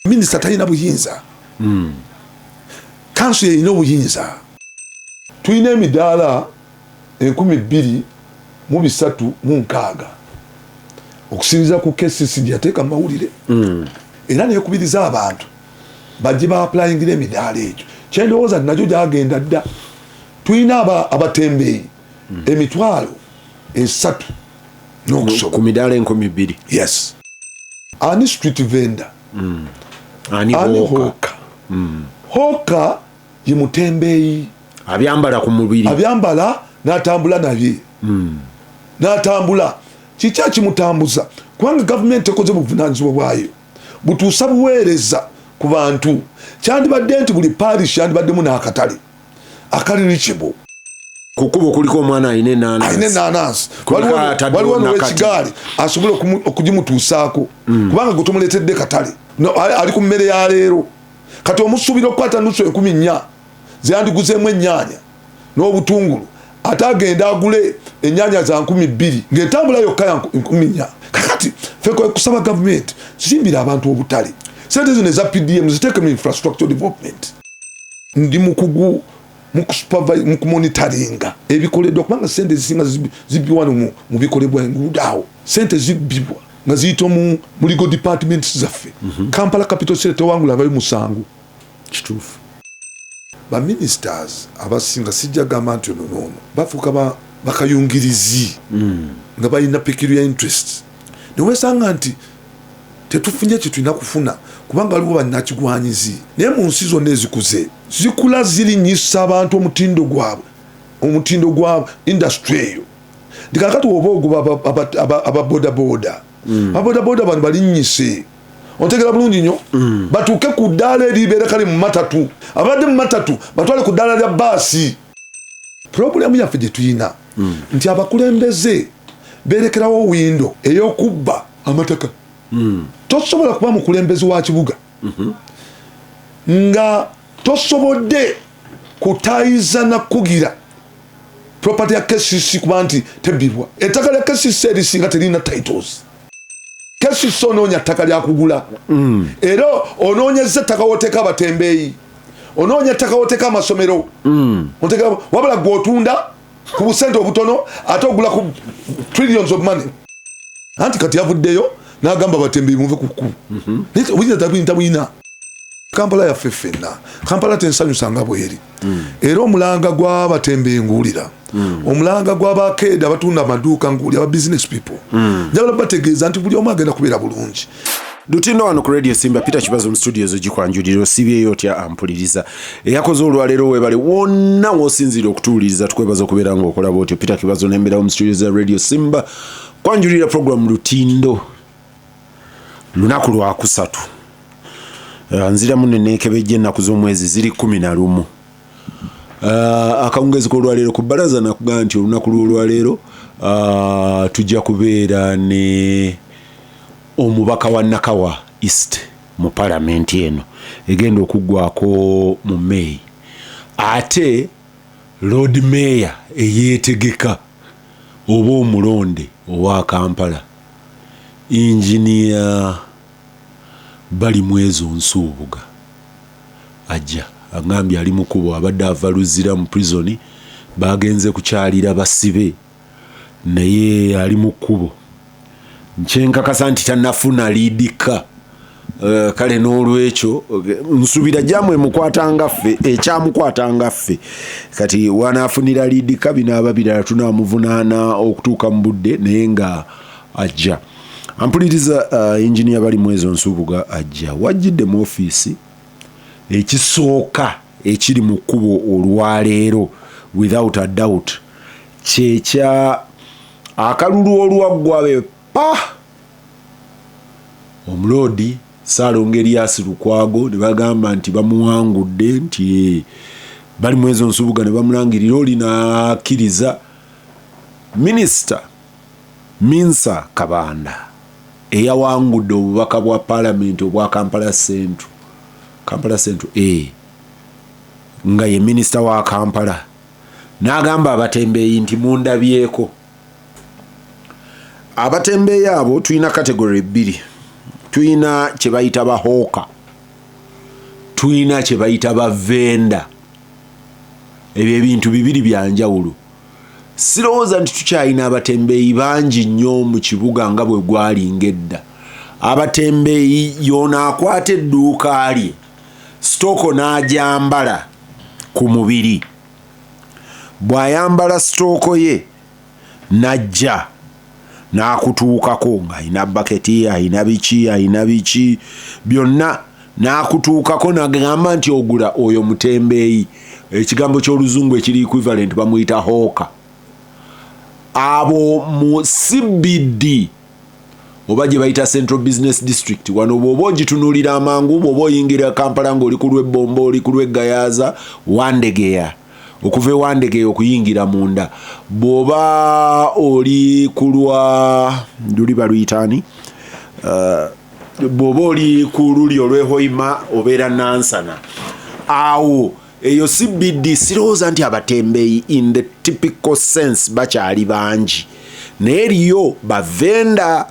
minisita talina buyinza hmm. kanso yeyina obuyinza tulina emidaala enkumi bbiri mu bisatu mu nkaaga okusinziza ku kcc gyeyateeka mu mawulire hmm. era nekubiriza abantu bajje baapulayingira emidaala egyo kyendowooza najo gyagenda dda tulina abatembeeyi emitwalo esatu nokusoba ku midaala enkumi bbiri yes ani street vendor mm. ani, ani hoka mm. hoka ye mutembeeyi abyambala ku mubiri abyambala natambula nabye mm. natambula kiki akimutambuza kubanga gavumenti ekoze buvunanyizibwa bwayo butuusa buweereza ku bantu kyandibadde nti buli parish yandibaddemu n'akatale akali reachable ku kkubo kuliko omwana alina enanansi waliwo nowekigaali asobola okugimutuusaako mm. kubanga gwe tomuleetedde katale ali ku mmere ya leero kati omusuubira okukwata nusu enkumi nnya zeyandiguzemu ennyaanya n'obutungulu ate agenda agule enyanya za nkumi bbiri ngaentambula yokka ya nkumi nya kakati fe kusaba gavumenti zimbira abantu obutale sente zino eza pdm ziteeke mu infrastructure development ndi mukugu mukumonitaringa ebikoledwa kubanga sente zisinga zibiwano mu bikolebwa enguudo awo sente zibibwa nga ziyita mu muligo departments zaffe mhm. kampala capital city tewangula abayo musango Kituufu. Ba ministers abasinga sijja gamba nti ono noono bafuuka ba bakayungirizi nga balina peculiar interests newesanga nti tetufunye kyetulina kufuna kubanga waliwo banakigwanyizi naye mu nsi zonna ezikuze zikula zirinyisa abantu omutindo gwabwe omutindo gwa industry eyo nti kakati woba ogoba aba- aba- aba- ababodaboda ababodaboda bano balinyise otegera bulungi nyo mm. batuuke ku ddaala eribeera kale mu matatu abadde mu matatu batwale ku ddaala lya baasi pulogulaamu yaffe gye tuyina mm. nti abakulembeze berekerawo windo ey'okubba amataka mm. tosobola kuba mukulembezi wa kibuga mm-hmm. nga tosobodde kutayiza nakugira property ya kcc kuba nti tebbibwa ettaka lya kcc erisinga teririna titles kesisi onoonya ttaka lyakugula mm. era onoonyeza ettaka woteeka abatembeeyi onoonya ettaka woteeka amasomero mm. wabula gwe otunda ku busente obutono ate ogula ku trillions of money anti kati yavuddeyo nagamba batembeyi muve kuku mhm. oyinza tabuyina kampala yaffe ffenna kampala tensanyusa nga bweri mm. era omulanga gwabatembe nguwulira mm. omulanga gwabakeeda abatunda amaduuka nguwuli aba business people mm. njagala bategeeza nti buli omu agenda kubeera bulungi lutinda wano ku radio simba peter kibazo mu studio zo gikwanjulira osibyeyo otya ampuliriza eyakoze olwaleero webale wonna wosinziira okutuwuliriza tukwebaza okubeera nga okolaba otyo peter kibazo nembeerawo mu studio za radio simba kwanjulira program lutindo lunaku lwakusatu eh, nziramu nenekebejja ennaku z'omwezi ziri kumi na lumu eh, akawungezi k'olwaleero ku bbalaza nakugaa nti olunaku lw'olwaleero eh, tujja kubeera ne omubaka wa nakawa east mu palamenti eno egenda okuggwako mu meyi ate lord mayor eyeetegeka oba omulonde owa kampala Engineer Balimwezo Nsubuga aja agambye ali mukubo abadde ava Luzira mu prison baagenze kukyalira basibe naye ali mu kkubo kyenkakasa nti tanafuna liidikka. Eh, kale n'olwekyo nsubira jamu emukwata nga ffe ekyamukwata nga ffe kati wanaafunira liidika binaaba birala tunaamuvunaana okutuuka mu budde naye nga ajja ampuliriza uh, eh, inginiya bali mu ezo nsubuga ajja wajjidde mu ofiisi ekisooka ekiri mu kkubo olwaleero without a doubt kyekya akalulu olwaggwa ah! omuloodi Ssaalongo Erias Lukwago ne bagamba nti bamuwangudde nti eh, bali mu ezo nsubuga ne bamulangirira oli n'akkiriza minisita Minsa Kabanda eyawangudde obubaka bwa palamenti obwa Kampala Central Kampala Central A eh, nga ye minisita wa Kampala n'agamba abatembeeyi nti mundabyeko abatembeeyi abo tulina kategory bbiri tulina kye bayita bahooka tulina kye bayita bavenda ebyo ebintu bibiri byanjawulo sirowooza nti tukyalina abatembeeyi bangi nnyo mu kibuga nga bwe gwali ngaedda abatembeeyi yoona akwata edduuka lye sitooko n'agyambala ku mubiri bw'ayambala sitooko ye n'ajja n'akutuukako ng'alina bbaketi alina biki alina biki byonna n'akutuukako n'agamba nti ogula oyo mutembeeyi ekigambo ky'oluzungu ekiri equivalent bamuyita hooka abo mu CBD oba gye bayita central business district wano bw'oba ogitunuulira amangu bw'oba oyingira kampala ng'oli ku lw'ebbomba oli ku lw'eggayaza wandegeya okuva ewandegeya okuyingira munda bw'oba oli ku lwa luli baluyitaani uh, bw'oba oli ku luli olw'ehoima obeera nansana awo eyo CBD sirowooza nti abatembeeyi in the typical sense bakyali bangi naye eriyo bavenda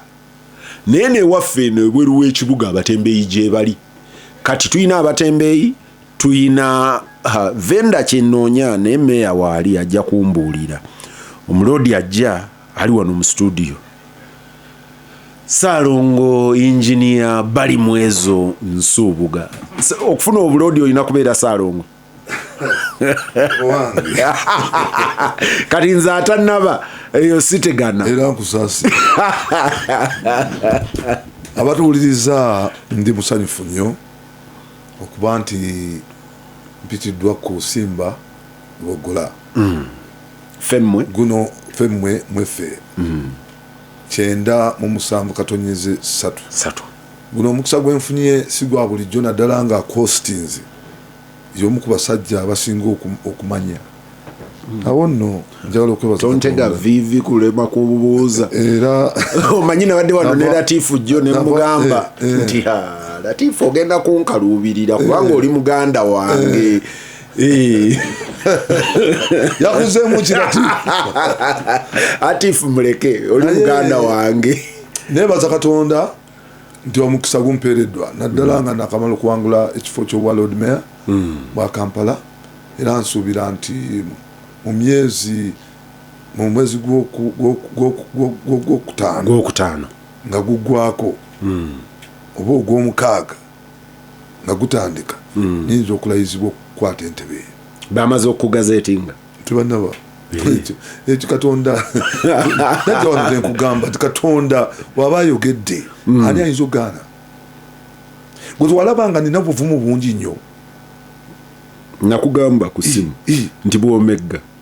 naye newaffe eno ebweru w'ekibuga abatembeeyi gyebali kati tulina abatembeeyi tulina venda kyenoonya naye meeya waali ajja kumbuulira omuloodi ajja ali wano mu studio saalongo inginia bali mwezo nsuubuga okufuna obuloodi olina kubeera saalongo kati nze atanaba eyo sitegana era nkusasi abatuwuliriza ndi musanyufu nnyo okuba nti mpitiddwa ku simba lwogula femmwe guno femmwe mweffe kyenda mu musanvu katonyeze satu satu guno omukisa gwenfunye sigwa bulijjo naddala nga kostinzi yomu ku basajja abasinga okumanya awo nno njagala okwebazontega vivi kulema kububuuza era omanyi nabadde wano ne latifu jjo nemugamba eh, eh. nti latifu ogenda kunkaluubirira kubanga eh. oli muganda wange Eh. yakuzeemu kirati atifu muleke oli muganda wange nebaza katonda nti omukisa gumpeereddwa naddala hmm. nga nakamala okuwangula ekifo kyobwa lord mayor hmm. bwa kampala era nsuubira nti mu myezi mu mwezi gwokutaano nga guggwako hmm. oba ogwomukaaga nga gutandika hmm. nyinza okulayizibwa okukwata entebe eyo bamaze okugazetinga tibanaba ekyo eh. katonda najawanzenkugamba ti katonda waba ayogedde hmm. ani ayinza okugaana gwetwalabanga nina buvumu bungi nnyo nakugamba ku simu nti bwomegga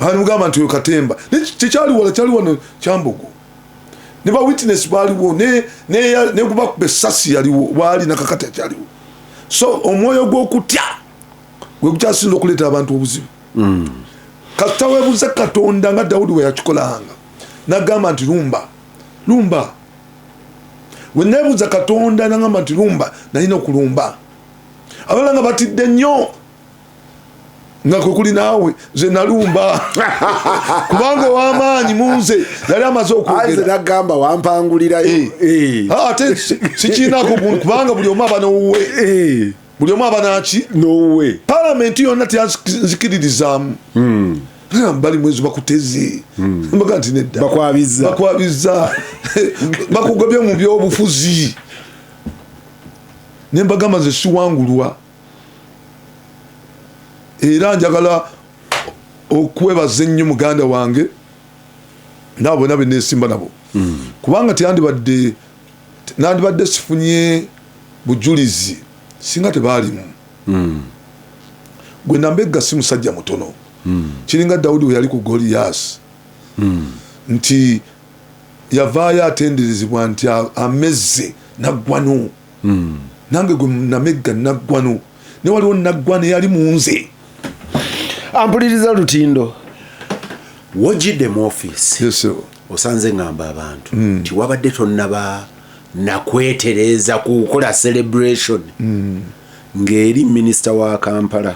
baali mugamba nti oyo katemba kyekyali wala kyali wano kyambogo ne bawitness baaliwo negubakuba esasi yaliwo baali nakakati akyaliwo so omwoyo gwokutya gwegukyasinza okuleeta abantu obuzibu hmm. kasita webuze katonda nga dawudi weyakikolanga nagamba nti lumba lumba wenebuza katonda nagamba nti lumba nalina okulumba abalala nga batidde nnyo nga kwekuli naawe nze nalumba kubanga owamaanyi munze yali amaze okwogeranagamba wampangulirayo eh. eh. ah, ate sikiinako kubanga buli omu aba nowuwe eh. buli omu aba naki nowuwe palamenti yonna tyanzikiririzaamu hmm. bali mwezi bakutezi hmm. mbaga nti nedda bakwabiza bakwabiza bakugobye mu byobufuzi nembagamba nze siwangulwa era njagala okwebaza ennyo muganda wange naabo bona benesimba nabo hmm. kubanga tyandibadde nandibadde sifunye bujulizi singa tebaalimu hmm. gwe nambegga si musajja mutono hmm. kiringa dawudi weyali ku goliyasi nti yavaayo atenderezebwa nti amezze naggwanu hmm. nange gwe namegga naggwano ne waliwo naggwana eyali munze ampuliriza lutindo wojidde mu office yes, osanze ngamba abantu mm. nti mm. wabadde tonnaba nakwetereeza kukola celebration mm. ng'eri minisita wa kampala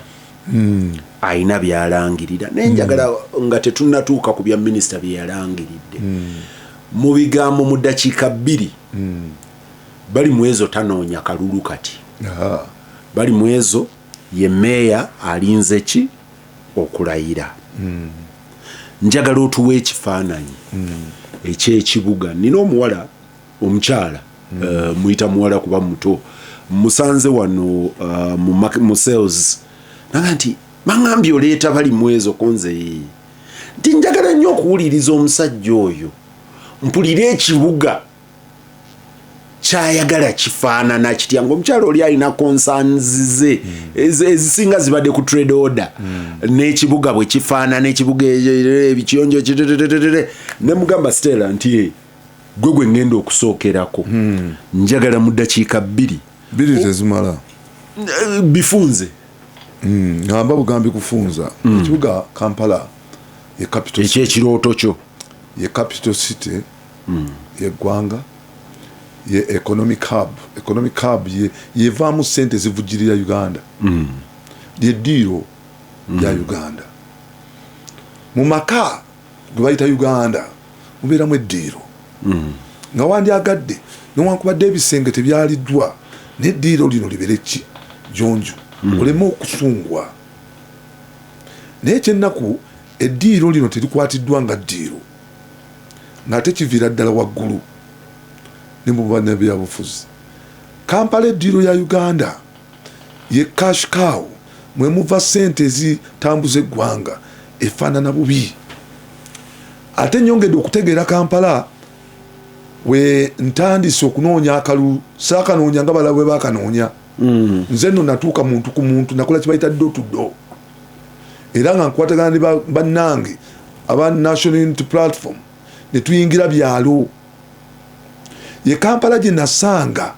mm. alina byalangirira naye njagala mm. nga tetunatuuka ku bya minisita byeyalangiridde mm. mu bigambo mu ddakiika bbiri mm. bali mwezo tanoonya kalulu kati bali mwezo ye meeya alinze ki okulayira hmm. njagala otuwa ekifaananyi hmm. ekyekibuga nina omuwala omukyala hmm. eh, muyita muwala kuba muto musanze wano eh, mu sales naga nti maŋambye oleeta bali mwezo konze nti njagala nnyo okuwuliriza omusajja oyo mpulire ekibuga kyayagala kifaanana kitya ngaomukyala oli alina konsanzize hmm. ezisinga zibadde ku trade order hmm. n'ekibuga bwe kifaanana ekibuga e, e, e, ebikiyonjo kitetetetetere ne mugamba stela nti eh, gwe gwe ngenda okusookerako hmm. njagala mu ddakiika bbiri bbiri tezimala eh, bifunze ngamba bugambi kufunza ekibuga kampala ekyekirooto kyo ye capital city yeggwanga ye economic hub economic hub ye yevaamu sente ezivujjirira uganda mm. lye diiro mm. lya uganda mu maka gwe bayita uganda mubeeramu eddiiro mm. nga wandyagadde newankubadde ebisenge tebyaliddwa neddiiro lino libere ki jonjo mm. oleme okusungwa naye ekyennaku eddiiro lino terikwatiddwa nga ddiiro ng'ate kiviira ddala waggulu ne mu bannabyabufuzi. Kampala eddiiro ya Uganda, ye cash cow mwe muva ssente ezitambuza eggwanga efaanana bubi. Ate nnyongedde okutegeera Kampala we ntandise okunoonya akalulu saakanoonya nga balala bwe baakanoonya. Mm. Nze nno natuuka muntu ku muntu nakola kye bayita ddo tuddo. era nga nkwatagana ne bannange aba national unity platform ne tuyingira byalo ye kampala gye nasanga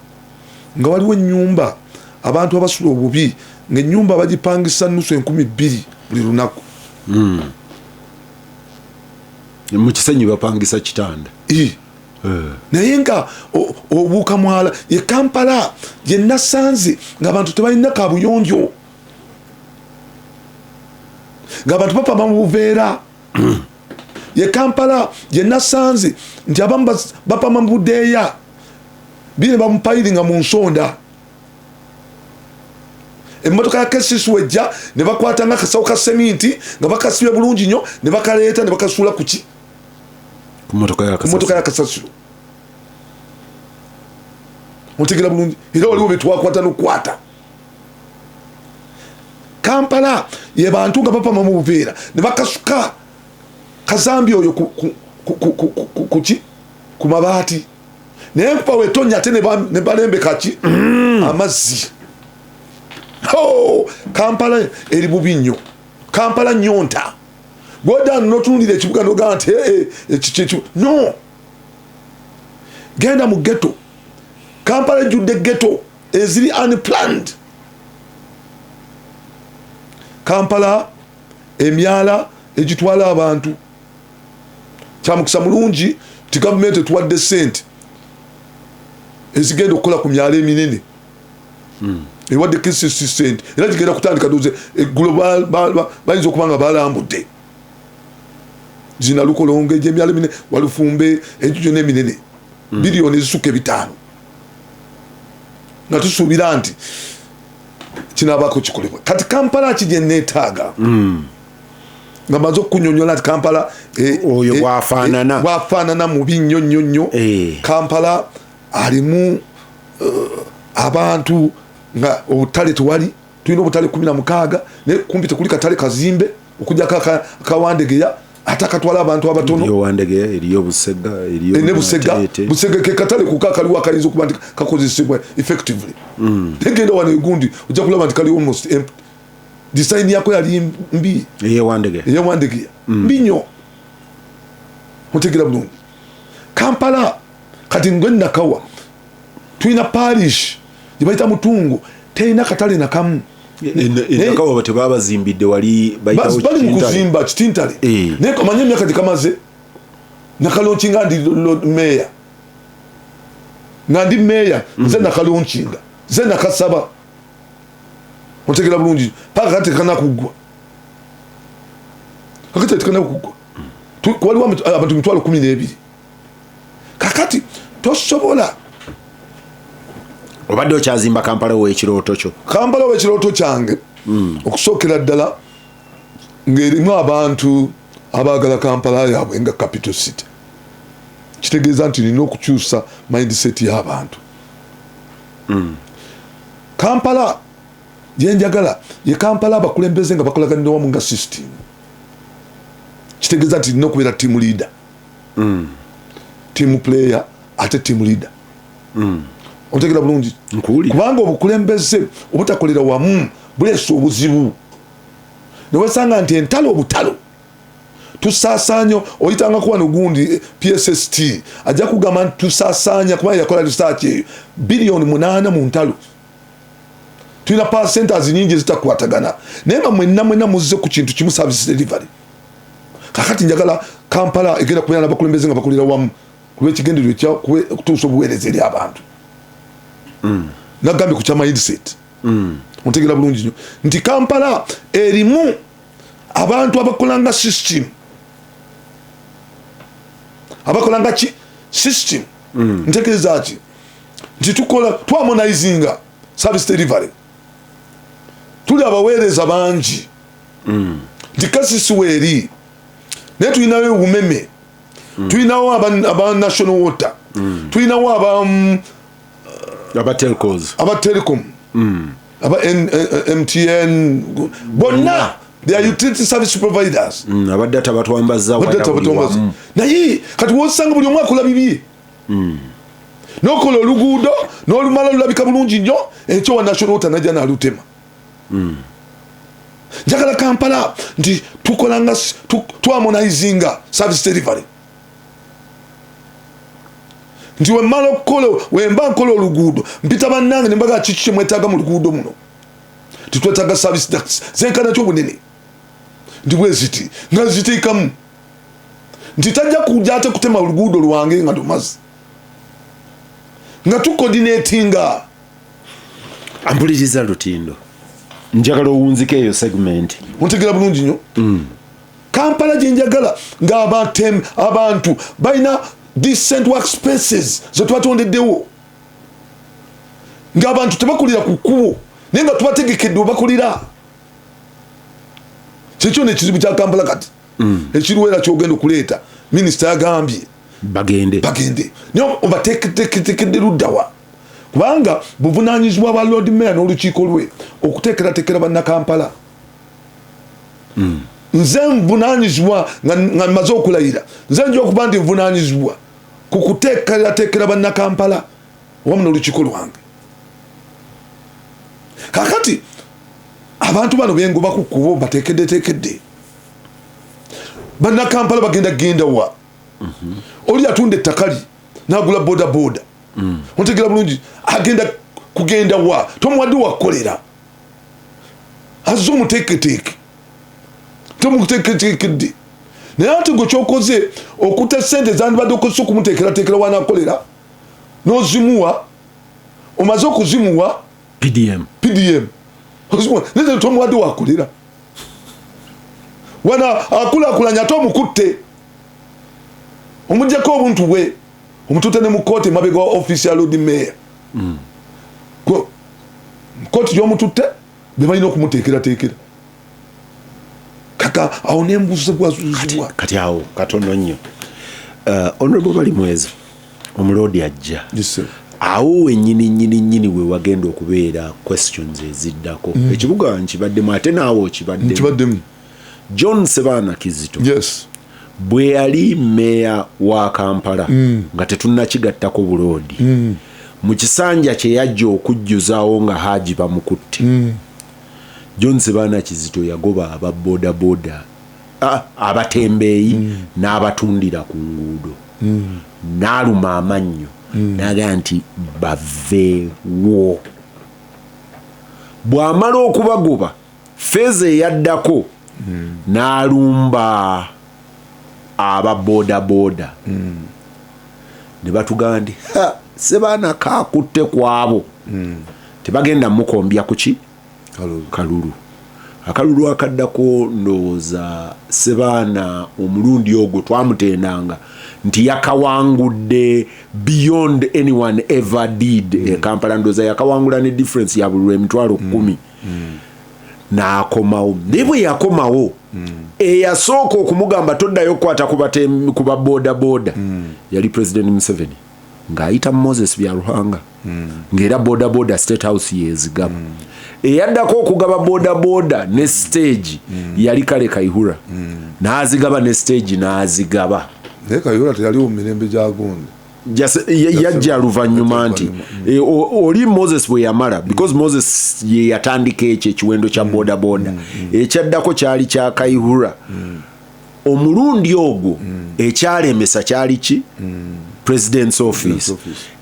nga waliwo ennyumba abantu abasula obubi ng'ennyumba bagipangisa nusu enkumi bbiri buli lunaku hmm. mu kisenyi bapangisa kitanda eh. naye nga obuuka mwala ye kampala gye nasanze ng'abantu tebalina kabuyonjo nga bantu bapama mu buveera ye kampala yenasanze nti abamu bapama mu budeeya bine bamupayiringa mu nsonda emotoka ya kcc wejja ne bakwata nga akasawo ka seminti nga bakasibe bulungi nnyo ne bakaleeta ne bakasuula kuki motoka ya kasasiro mutegera bulungi era waliwo betwakwata nokukwata kampala yebantu nga bapama mu buveera ne bakasuka kazambi oyo kuki ku mabaati naye nkuba wetonya ate ne balembeka ki mm. amazzi kampala eri bubi nnyo kampala nyonta gwodan notunulira ekibuga nogaa nti eh, eh, no genda mu geto kampala ejjudde geto eziri unplanned kampala emyala egitwala abantu kyamukisa mulungi nti gavumenti etuwadde sente ezigenda okukola ku myalo eminene hmm. ewadde kisisi sente era gigenda kutandika doze eggulo bayinza okuba nga balambudde zinalukolonga egyemyalo eminene walufumbe ejujo neminene hmm. biliyoni ezisukka ebitaano nga tusuubira nti kinabaako kikolebwa kati kampala ki gyeneetaaga hmm. nga maze okunyonyola nti kampala eh, oyo eh, bwafaanana eh, bwafaanana mubi nnyo nnyo nnyo kampala alimu abantu nga obutale tewali tulina obutale kumi na mukaaga naye kumpi tekuli katale kazimbe okujako akawandegeya atakatwala abantu abatononebusegaekatale kuko akaliwo akayinza okuba nti kakozesebwa effectively mm. tegenda wano egundi ojja kulaba nti kaliwo most empty disayini yako yali mbi eyewandegeya mm. mbi nyo otegera bulungi kampala kati ngwe nakawa tulina parish gyebayita mutungo terina katale nakamu enaka waba tebabazimbidde wali bali mukuzimba kitintale eh. naye kamanye emyaka gyekamaze nakalonkinga ndi meya nga ndi meya mm. nze nakalonkinga nze nakasaba otegera bulungi paka kati tekanakuggwa kakati tekanakuggwa waliwo abantu mitwalo kumi n'ebiri kakati tosobola obadde okyazimba kampala wekirooto kyo kampala wekirooto kyange hmm. okusookera ddala ng'erimu abantu abaagala kampala yaabwe nga capital city kitegeeza nti nina okukyusa mindset y'abantu hmm. kampala yenjagala ye kampala abakulembeze nga bakolaganira wamu nga system kitegeeza nti nina okubeera tiamu leader mm. team player ate team leader mm. otegera bulungi kubanga obukulembeze obutakolera wamu buleesa obuzibu newesanga nti entalo obutalo tusasanyo oyitanga kuba nogundi eh, psst ajja kugamba nti tusasanya kubanga yakola research eyo biliyoni munana mu ntalo tulina percentas nyingi ezitakwatagana naye nga mwenna mwenna muzze ku kintu kimu service delivery kakati njagala kampala egenda kubeera nabakulembeze nga bakolera wamu kulwekigendererwa ekya okutuusa obuweereza eri abantu mm. nagambye ku kya mindset mm. ontegera bulungi nyo nti kampala erimu abantu abakolanga system abakolanga ki system mm. ntegeeza ki nti tukola twamonaizinga service delivery tuli abaweereza bangi mm. nti kasisi weeri naye tulinawo obumeme mm. tulinawo aba national water mm. tulinawo aba mm, aba telecom aba mtn bonna their mm. utility service providers mm, abadde tabatwambaza naye kati wosanga buli omwaka olabibye mm. nokola oluguudo nolumala lulabika bulungi nnyo ekyo wa national water naja nalutema mm. njagala kampala nti tukolanga twamonaizinga service delivery nti wemala okukola wemba nkola oluguudo mpita bannange nembaga kiki kyemwetaaga mu luguudo muno titwetaaga service ducts zenkanakyo obunene nti bweziti nga ziteekamu nti tajja kuja ate kutema oluguudo lwange nga lumazi nga tukodinatinga ampuliriza lutindo njagala owunzika eyo segment ontegera bulungi nyo mm. kampala gyenjagala ngaabatem abantu balina decent work spaces zetwatondeddewo ngaabantu tebakulira ku kkubo naye nga tubategekedde obakulira kyekyo nekizibu kya kampala kati mm. ekiruwera kyogenda okuleeta minisita yagambye bagende bagende naye obateketekedde luddawa kubanga buvunanyizibwa bwa lord mayor n'olukiiko lwe okuteekerateekera bannakampala mm. nze nvunanyizibwa nga maze okulayira nze nja okuba nti nvunanyizibwa ku kuteekerateekera bannakampala wamu n'olukiiko lwange kakati abantu bano bengoba ku kubo batekeddetekedde bannakampala bagenda genda wa mhm. oli atunda ettakali nagula bodaboda mm. otegera bulungi agenda kugenda wa tomuwadde wakukolera azze omuteeketeeke tomuteeketeekedde naye ati gwe kyokoze okuta sente zandibadde okozesa okumuteekerateekera wanakolera nozimuwa omaze okuzimuwa pdm pdm naye tomuwadde wakulira wana akulakulanya ate omukutte omujjako obuntu bwe omutute ne mu kooti emabega wa office ya lord mayor mm. kooti gyomututte bebalina okumuteekerateekera kaka awo nembuuzibwazuzibwa kati awo katono nnyo uh, honorable bali mwezi omuloodi ajja awo wenyini nyini nyini we wagenda okubeera questions eziddako mm. ekibuga nkibaddemu ate naawe okibaddemu john sebaana kizito yes. bwe yali meeya wa kampala mm. nga tetunnakigattako buloodi mm. mu kisanja kye yajja okujjuzawo nga haaji bamukutte mm. john sebaana kizito yagoba aba bodaboda abatembeeyi mm. n'abatundira ku nguudo mm. n'aluma amannyo mm. naga nti baveewo bw'amala okubagoba Feeza eyaddako n'alumba aba bodaboda ne batugamba nti Ssebaana kaakutte ku abo tebagenda mukombya ku ki kalulu. Akalulu akaddako ndowooza Ssebaana omulundi ogwo twamutendanga nti yakawangudde beyond anyone ever did e Kampala, ndowooza yakawangula ne difference ya buli lw'emitwalo kkumi. mm. n'akomawo naye bwe yakomawo mm. eyasooka okumugamba toddayo okukwata ku ba bodaboda mm. yali president museveni ng'ayita moses byaruhanga mm. ng'era bodaboda state house yezigaba mm. eyaddako okugaba bodaboda ne stage mm. yali kale kaihura mm. n'azigaba ne stage n'azigaba naye kaihura teyaliwo mu mirembe gya gundi yajja luvannyuma nti e, oli moses bwe yamala because mm. moses ye yatandika ekyo ekiwendo kya mm. bodaboda mm, ekyaddako kyali kya kaihura omulundi ogwo ekyalemesa kyali ki president's office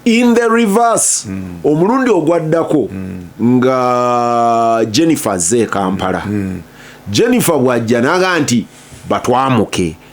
in the reverse omulundi ogwaddako nga jennifer ze kampala jennifer bwajja naga nti batwamuke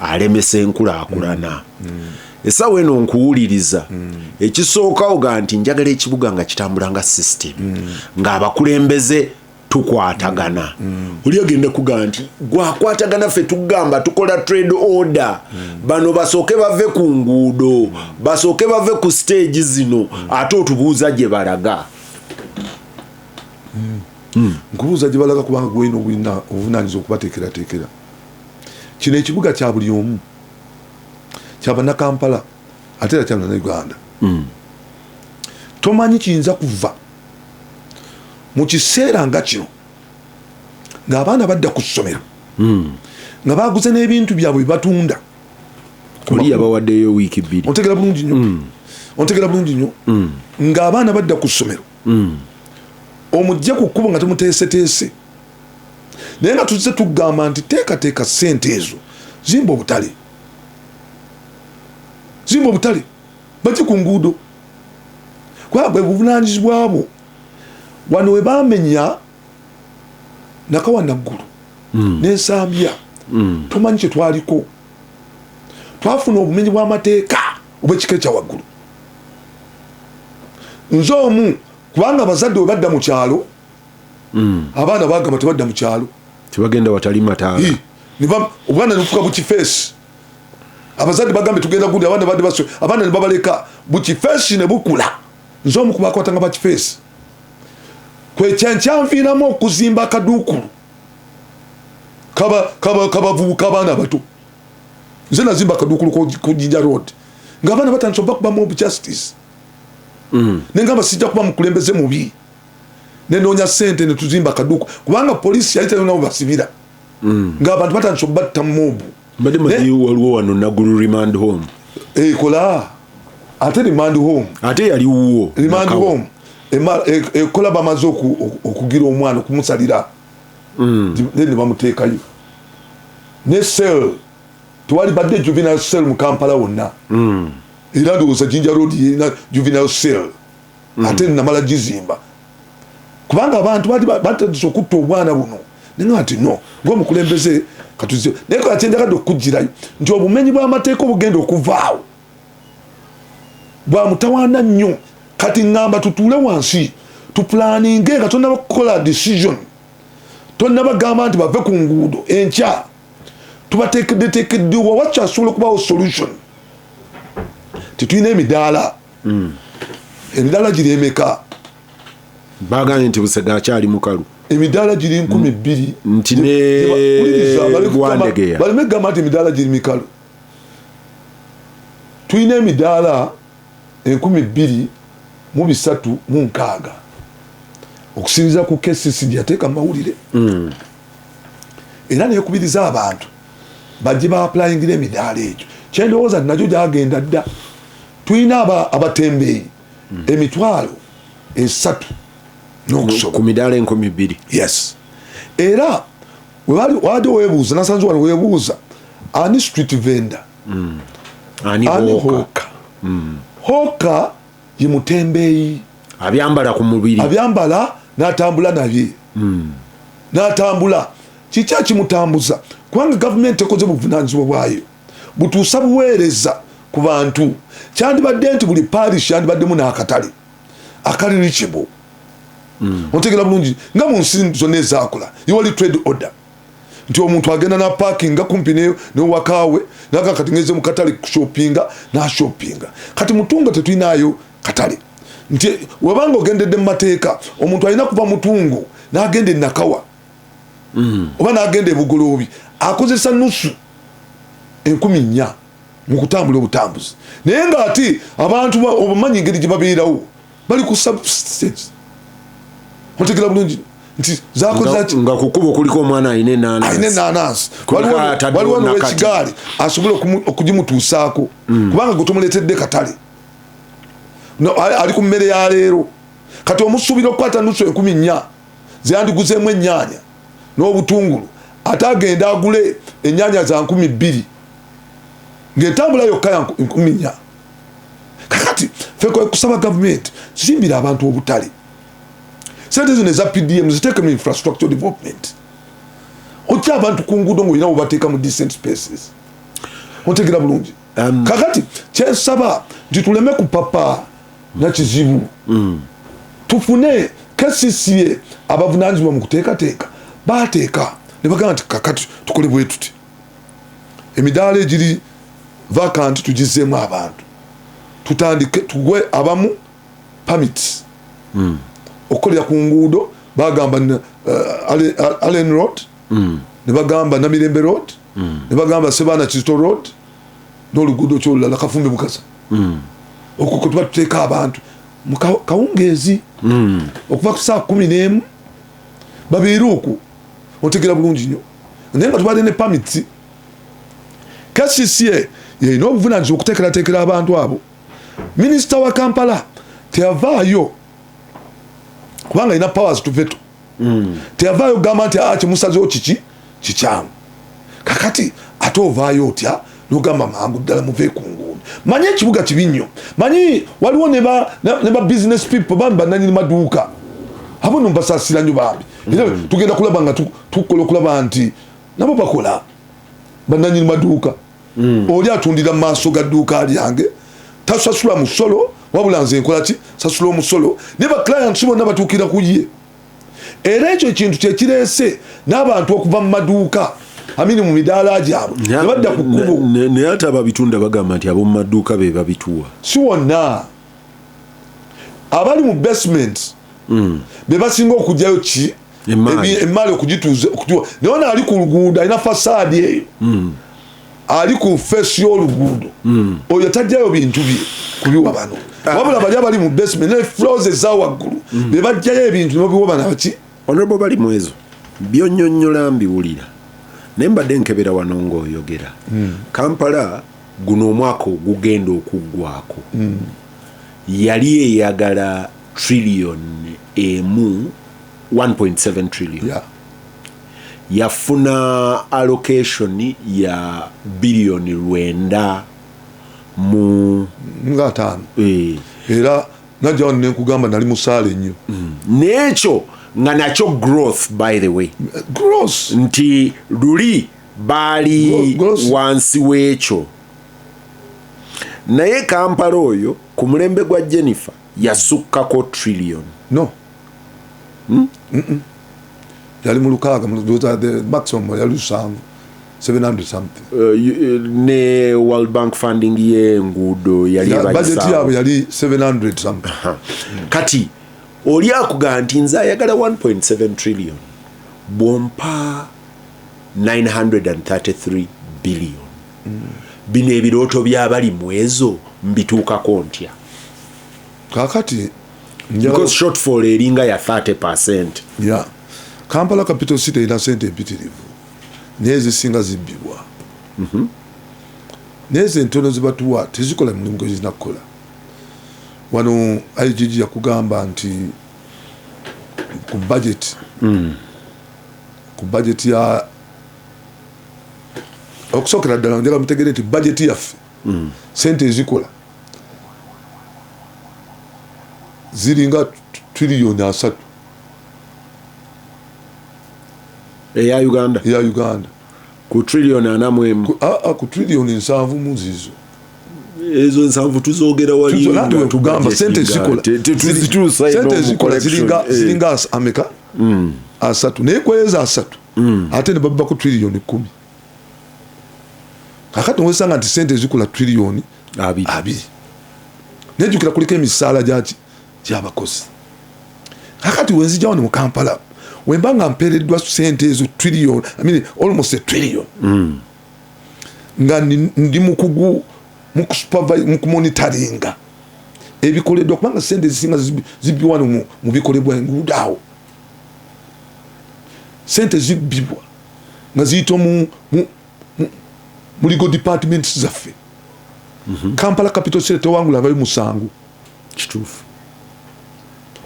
alemesa enkulaakulana essaawa eno nkuwuliriza ekisookawo ga nti njagala ekibuga nga kitambula nga system ng'abakulembeze tukwatagana oli agenda kugaa nti gwakwatagana ffe tugamba tukola trade order bano basooke bave ku nguudo basooke bave ku siteegi zino ate otubuuza gye balaga nkubuuza gye balaga kubanga gwena obuvunanyizibwa okubateekerateekera kino ekibuga kya buli omu kyabanakampala ate era kyabana uganda mm. tomanyi kiyinza kuva mu kiseera nga kino ng'abaana badda ku ssomero mm. nga baguze n'ebintu byabwe bibatunda oli yabawaddeyo wiiki bbiri ontegera bulungi nnyo mm. ontegera bulungi nnyo ng'abaana badda ku ssomero omujja ku kkubo nga temuteeseteese naye nga tuzze tugamba nti teekateeka sente ezo zimba obutale zimba obutale baki ku nguudo kubanga bwe buvunanyizibwa bwo wano we bamenya nakawa naggulu mm. nensambya mm. tomanyi kye twaliko twafuna obumenyi bw'amateeka obw'ekika ekya waggulu nze omu kubanga abazadde we badda mu kyalo mm. abaana bagamba tebadda mukyalo tebagenda watali mataala obwana nebufuka bukifeesi abazadde bagambe tugenda gundi abaana badde baswe abaana nebabaleka bukifeesi nebukula nze omu kubakwata nga bakifeesi kwekyankyanviiramu okuzimba akaduukulu kabavubuka abaana abato nze nazimba akaduukulu ku jinja road ngaabaana batandisa obakubamu obujustice mm. nengamba sijja kuba mukulembeze mubi nenoonya sente netuzimba kaduku kubanga polisi yali tayonabo basibira mm. nga abantu batandisa obatta mobu mbadde manyi waliwo wano nagulu remand home ekola eh, ate remand home ate yali wuwo remand home ekola e, bamaze okugira omwana okumusalira mm. then nebamuteekayo ne sel tewali badde juvenile sel mu kampala wonna mm. era ndowooza jinja road yerina juvenile sel mm. ate namala gizimba kubanga abantu batandise okutta obwana buno nino ati no ngaomukulembeze katuzi naye kakyenjagadde okukugirayo nti obumenyi bwamateeka obugenda okuvaawo bwamutawaana nnyo kati ŋŋamba tutuule wansi tupulaninge nga tonaba kukola decision tonabagamba nti bave ku nguudo enkya tubateekeddeteekeddewa wakyasobola okubaawo solution titulina emidaala mm. emidaala giri emeka bagambye nti busega akyali mukalu emidaala giri nkumi mm. bbiri nti newandegeya baleme kugamba nti emidaala giri mikalu tulina emidaala enkumi bbiri mu bisatu mu nkaaga okusinziza ku kcc gyeyateeka mu mawulire mm. era nekubiriza abantu bajje baapulayingira emidaala egyo kyendowooza nakyo gyagenda dda tulina abatembeeyi hmm. emitwalo esatu ku midaala enkumi bbiri yes era wabadde webuuza nasanze wano webuuza ani street vendor hmm. ani hoka hmm. hoka ye mutembeeyi abyambala ku mubiri abyambala natambula nabye natambula kiki akimutambuza kubanga gavumenti ekoze buvunanyizibwa bwayo butuusa buweereza ku bantu kyandibadde nti buli parish yandibaddemu n'akatale akali reachable hmm. otegera bulungi nga mu nsi zonna ezakula iwali trade order nti omuntu agenda napakinga kumpi newakawe naga kati ngeze mukatale kushopinga nashopinga kati mutungo tetulinayo katale nti webanga ogendedde mu mateeka omuntu alina kuva mutungo nagenda enakawa mm. oba nagenda ebugoloobi akozesa nusu enkumi nnya mu kutambula obutambuzi naye nga ate abantu obumanyi engeri gye babeerawo bali ku substance otegera bulungi nti zakozaki nga kukuba okuliko omwana alina enanansi waliwo nowekigaali asobola okugimutuusaako mm. kubanga gwe tomuleetedde katale ali ku mmere ya leero kati omusuubira okukwata nusu enkumi nnya zeyandiguzeemu ennyaanya n'obutungulu ate agende agule ennyaanya za nkumi bbiri ng'entambula yokka ya nkumi nnya kakati fe kusaba gavumenti zimbira abantu obutale sente zino eza pdm ziteeke mu infrastructure development otya abantu ku nguudo ngaolina webateeka mu decent spaces otegera bulungi um, kakati kyensaba nti tuleme kupapa nga kizibu mm. tufune kcca abavunanyizibwa mu kuteekateeka bateeka ne bagamba nti kakati tukole bwe tuti emidaala egiri vakanti tugizeemu abantu tutandike tugwe abamu pamits mm. okukolera ku nguudo bagamba uh, allen road mm. ne bagamba namirembe road mm. ne bagamba sebaana kizito road n'oluguudo ki olulala kafumbe mukasa hmm. okwo kwe tuba tuteeka abantu mu kawungeezi hmm. okuva ku saa kumi n'emu babeere okwo otegera bulungi nnyo naye nga tubadde ne pamiti kcca yalina obuvunanyizibwa okuteekerateekera abantu abo minisita wa kampala teyavaayo kubanga alina powers to veto mm. teyavaayo kugamba nti ah, kimusazewo kiki kikyamu kakati ate ovaayo otya nogamba mangu ddala muve ku nguudo manyi ekibuga kibi nnyo manyi waliwo ne ba business people bambi bananyini maduuka abo no mbasasira nnyo bambi era mm. tugenda kulaba nga tukola okulaba nti nabo bakola bananyini maduuka mm. oli atundira mu maaso ga dduuka lyange tasasula musolo wabula nze nkola ki sasula omusolo naye baclients bonna batuukira ku ye era ekyo ekintu kyekireese n'abantu okuva mu maduuka amini mu midaala gyabwe nebadda ku kkubo naye ate ababitunda bagamba nti ab'omu maduuka be babituwa si wonna abali mu basement mm. bebasinga okugyayo ki emaali okugituza okutuwa naye ono ali ku luguudo alina fasaadi eyo mm. ali ku feesi y'oluguudo mm. oyo tajjayo bintu bye kubiwa bano ah. wabula bali abali mu basement ne flows eza waggulu mm. bebajjayo ebintu nobiwa bana baki onobo bali mwezo byonyonyola mbiwulira naye mbadde nkebera wano ngaoyogera kampala guno omwaka ogugenda okuggwaako yali eyagala trillion emu 1.7 trillion yeah. yafuna allocation ya billion lwenda mu nga ataano eh. era najja wano nenkugamba nali musaale nnyo mm. n'ekyo nga nakyo growth by the way growth nti luli baali wansi w'ekyo naye kampala oyo ku mulembe gwa jennifer yasukkako trillion no hmm? yali mu lukaaga maximum yali lusanvu 700 something uh, uh, ne world bank funding yenguudo yalibajeti yabwe yali 700 something uh -huh. mm. kati oli akuga nti nze ayagala 1.7 trillion bwompa 933 billion bino ebirooto byabali mwezo mbituukako ntya kakati because shortfall eringa ya 30 percent yeah. kampala capital city erina sente empitirivu naye zisinga zibbibwa mm -hmm. naye zentono zibatuwa tezikola mirimu gezirina kukola wano igg yakugamba nti ku budget mm. ku bajeti ya okusookera ddala njala mutegere nti bajeti yaffe mm. sente ezikola ziringa tiriyoni asatu eya uganda eya uganda ku trillion ana mu emu ku ah, ah, trillion nsanvu mu zizo ezo nsanvu tuzogera walitugamba sente zikola ziringa eh. ameka mm. asatu naye kwezo asatu mm. ate nebabba ku trillion kumi kakati nowesanga nti sente zikula trillion abiri nejukira kuliko emisaala gyaki kyabakozi kakati wenzija wano mu kampala wemba nga mpereddwa sente ezo trillion I mean, almost a trillion mm. nga ndi mukugu mukumonitaringa ebikoleddwa kubanga sente ezisinga zibbi wano mu bikolebwa enguudo awo sente zibbibwa nga ziyita mu muligo departments zaffe mm -hmm. kampala capital state tewangula abayo musango kituufu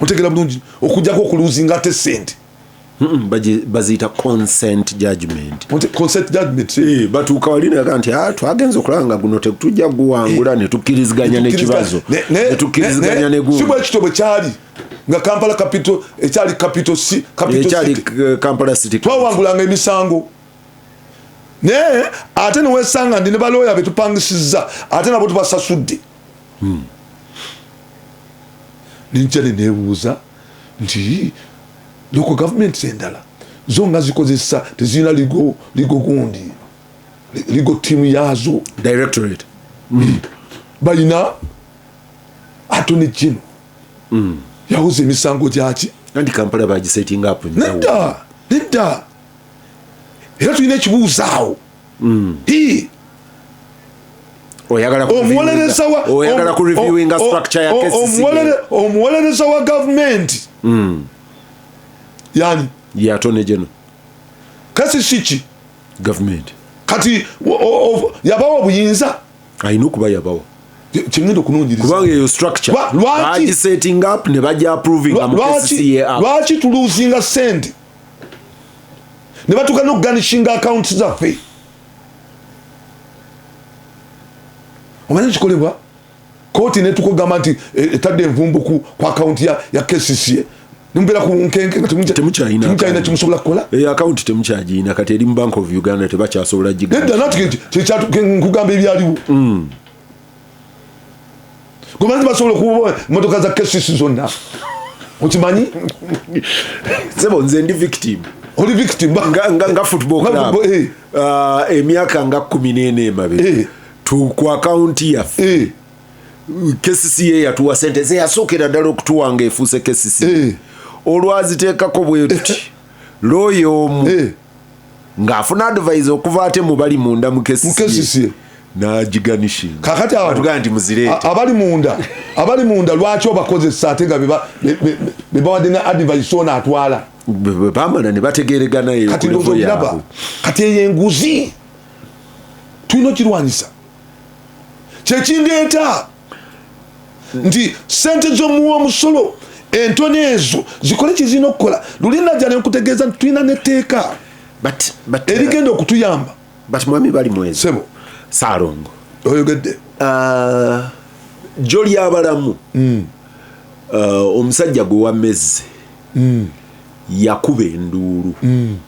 otegera bulungi okujjako okuluzinga ate sente baziyita consent judgment consent judgment eh, batuuka wali naga nti ah, twagenza okulaba nga guno tetujja guwangula eh, netukkiriziganya nekibazo netukkiriziganya negunsibwekityo bwe kyali nga kampala capital ekyali capital c ekyali eh, kampala city twawangulanga emisango naye ate newesanga ndi ne balooya betupangisizza ate nabo tubasasudde hmm. ninja nenebuuza nti loko gavumenti endala zo nga zikozesa tezirina ligo ligo gundi ligo tiimu yaazo directorate hmm. balina atone kino hmm. yawoza emisango gyaki anti kampala bagisetinga apo nedda nedda era tulina ekibuuzaawo mm. hii omuwolereza wa gavumenti mm. yani yatone geno kasi siki gavumenti kati yabawa obuyinza alina okuba yabawa kyengenda okunonyerezakubanga eyo structurebagisetting up ne baja approvinga mu lwaki tuluzinga sente ne batuuka n'okuganishinga akawunti zaffe omanyi kikolebwa kooti netukugamba nti e, etadde envumbu ku akawunti ya kcca nimubera ku nkenke nga temukyalina kimusobola kukola eyo eh, akawunti temukyagirina kati eri mu bank of uganda tebakyasobola giga nti kyekyatuke nkugamba ebyaliwo mm. gwemanzi basobola okuba motoka za kesisi zonna okimanyi sebo nze ndi victim oli victim nga, nga, nga football club eh. ah, emyaka nga kumi nene emabega eh. ku akaunti yaffe eh. kesisi ye yatuwa sente zeyasookera ddala okutuwa nga efuuse kesisi olwaziteekako bwetuti looya omu ng'afuna advise okuva ate mu bali munda mu kesisi nagiganishinga kakati atugamba nti muzireete abali munda abali munda lwaki obakozesa ate nga bebawadde ne advise ono atwala bamala ne bategeregana kati ndozolaba kati eyo enguzi tulina okirwanyisa kyekindeeta nti sente zomuwa omusolo entono ezo zikole kyezirina okukola luli naja nenkutegeeza nti tulina neteeka erigenda uh, okutuyamba but mwami bali mwezi sebo salongo oyogedde uh, jo lyabalamu mm. uh, omusajja gwe wamezze mm. yakuba enduulu mm.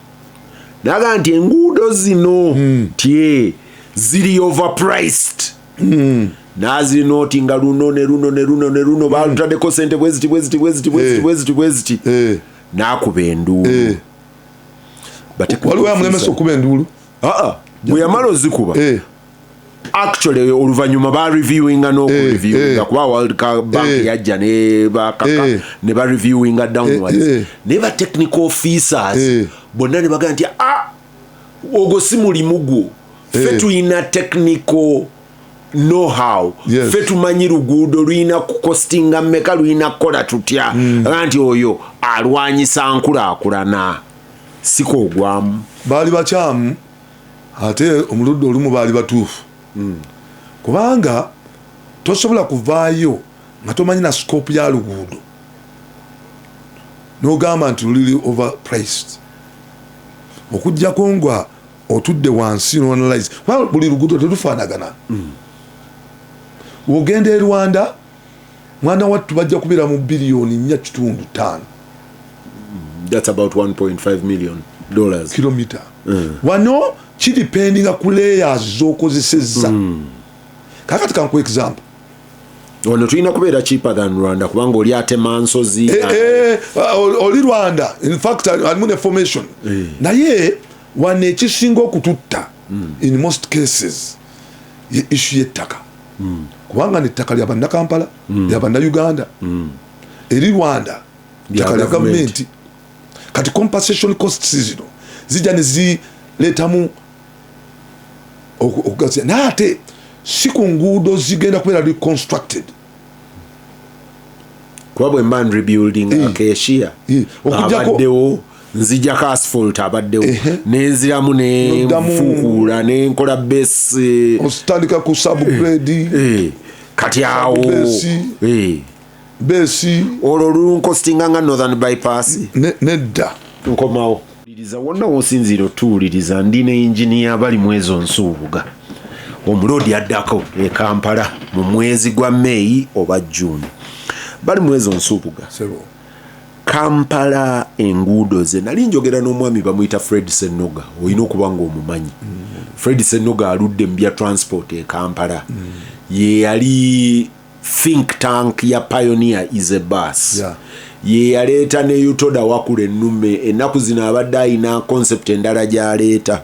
naga nti enguudo zino mm. tye ziri overpriced hmm. nazi noti nga luno ne luno ne luno ne luno hmm. balutadeko sente bweziti bweziti bweziti bweziti eh. bweziti bweziti eh. nakuba enduulu eh. waliwo amulemesa okuba enduulu aa bweyamala ozikuba actually oluvanyuma ba reviewinga nokureviewinga kuba world bank yajja ne bakaka ne ba reviewinga downwards naye ba technical officers bonna ne bagamba nti a ah, ogwo si mulimu gwo eh. fe tulina technical know how yes. fe tumanyi luguudo lulina kukostinga meka lulina kukola tutya mm. nti oyo alwanyisa nkulakulana siko ogwamu baali bakyamu ate omuludde olumu baali batuufu mm. kubanga tosobola kuvaayo nga tomanyi na scope ya luguudo nogamba nti luli over priced okujjako nga otudde wansi noanalyze kuba buli lugudo telufanagana mm. wogenda e rwanda mwana wattu bajja kubeera mu biliyoni nnya kitundu taano mm, kilomita mm. wano kidipendinga ku layers zokozesezza mm. kakati kanku example wano tulina kubeera cheaper than rwanda kubanga oli atema nsozi eh, eh, uh, oli rwanda infact alimu ne formation eh. naye wano ekisinga okututta hmm. in most cases ye issu yettaka hmm. kubanga nettaka lya bannakampala hmm. lya bannauganda eri rwanda ttaka lya gavumenti kati compensation costs zino zijja nezireetamu okugaziya naye ate si ku nguudo zigenda kubeera reconstructed kuba bwe mba nrebuilding eh. akeshiya eh. abaddewo nzijako asphalt abaddewo nenziramu nenfukuula nenkola besi otandika ku subgrade eh. kati awo besi olwo lulunkostinga nga northern bypass nedda nkomawo liriza wonna wosinziira otuwuliriza ndi ne engineer bali mu ezo nsuubuga omuloodi addako e kampala mu mwezi gwa meyi oba june bali mu ezo nsuubuga kampala enguudo ze nali njogera n'omwami bamuyita fred senoga olina okuba ngaomumanyi mm. fred senoga aludde mu bya transport e kampala mm. yeyali think tank ya pioneer is a bus yeah. ye yaleeta ne utoda wakula ennume ennaku zino abadde alina concept endala gyaleeta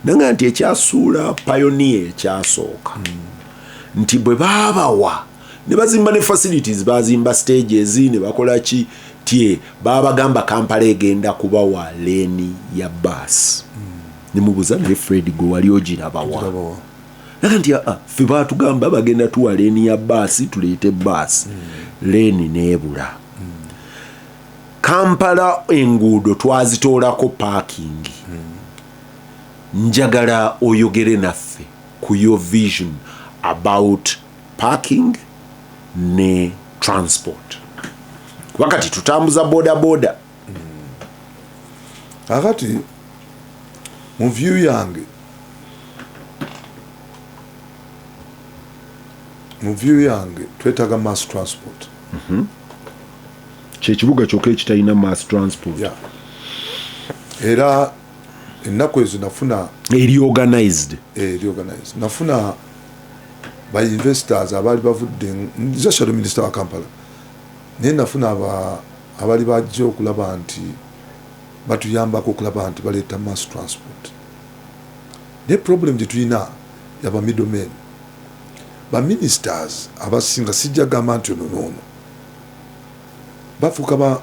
nanga nti ekyasuula pioneer ekyasooka mm. nti bwe baabawa ne bazimba ne facilities bazimba stages ne bakola ki tie babagamba kampala egenda kubawa leeni ya bus mm. ne mubuza naye fred gwe wali ogirabawa naga nti aa ffe batugamba bagenda tuwa leeni ya baasi tuleete baasi mm. leeni neebula mm. kampala enguudo twazitoolako paakingi mm. njagala oyogere naffe ku your vision about parking ne transport wakati tutambuza bodaboda kakati hmm. mu view yange mu view yange twetaga mass transport mm -hmm. kyekibuga kyokka ekitalina mass transport yeah. era ennaku ezo nafuna eriorganized eriorganized eh, nafuna ba investors abaali bavudde nze shadow minister wa kampala naye nafuna aba Abali bajja okulaba nti batuyambako okulaba nti baleeta mass transport naye problem gyetulina ya ba middle men. Ba ministers abasinga sijja gamba nti ono noono bafuuka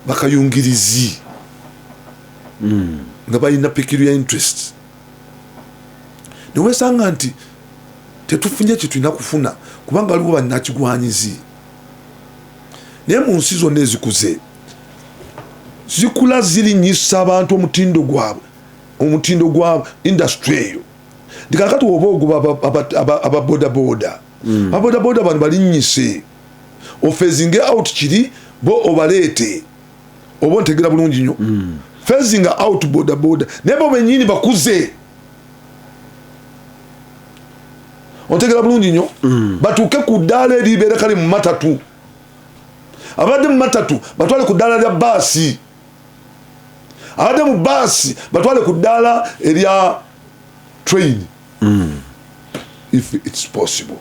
bakayungirizi mm. nga balina peculiar interest newesanga nti tetufunye kyetulina kufuna kubanga waliwo banakigwanyizi naye mu nsi zonna ezikuze zikula zirinyisa abantu omutindo gwabwe omutindo gwa industry eyo nti kakati oba oguba ababodaboda ababodaboda mm. bano balinyise ofezinge out kiri bo obaleete oba ontegera bulungi nyo mm. fezinga out bodaboda naye bo benyini bakuze otegera bulungi nyo mm. batuuke ku ddaala eribeera kale mu matatu abadde mu matatu batwale ku ddaala lya baasi abadde mu baasi batwale ku ddaala erya train mm. if its possible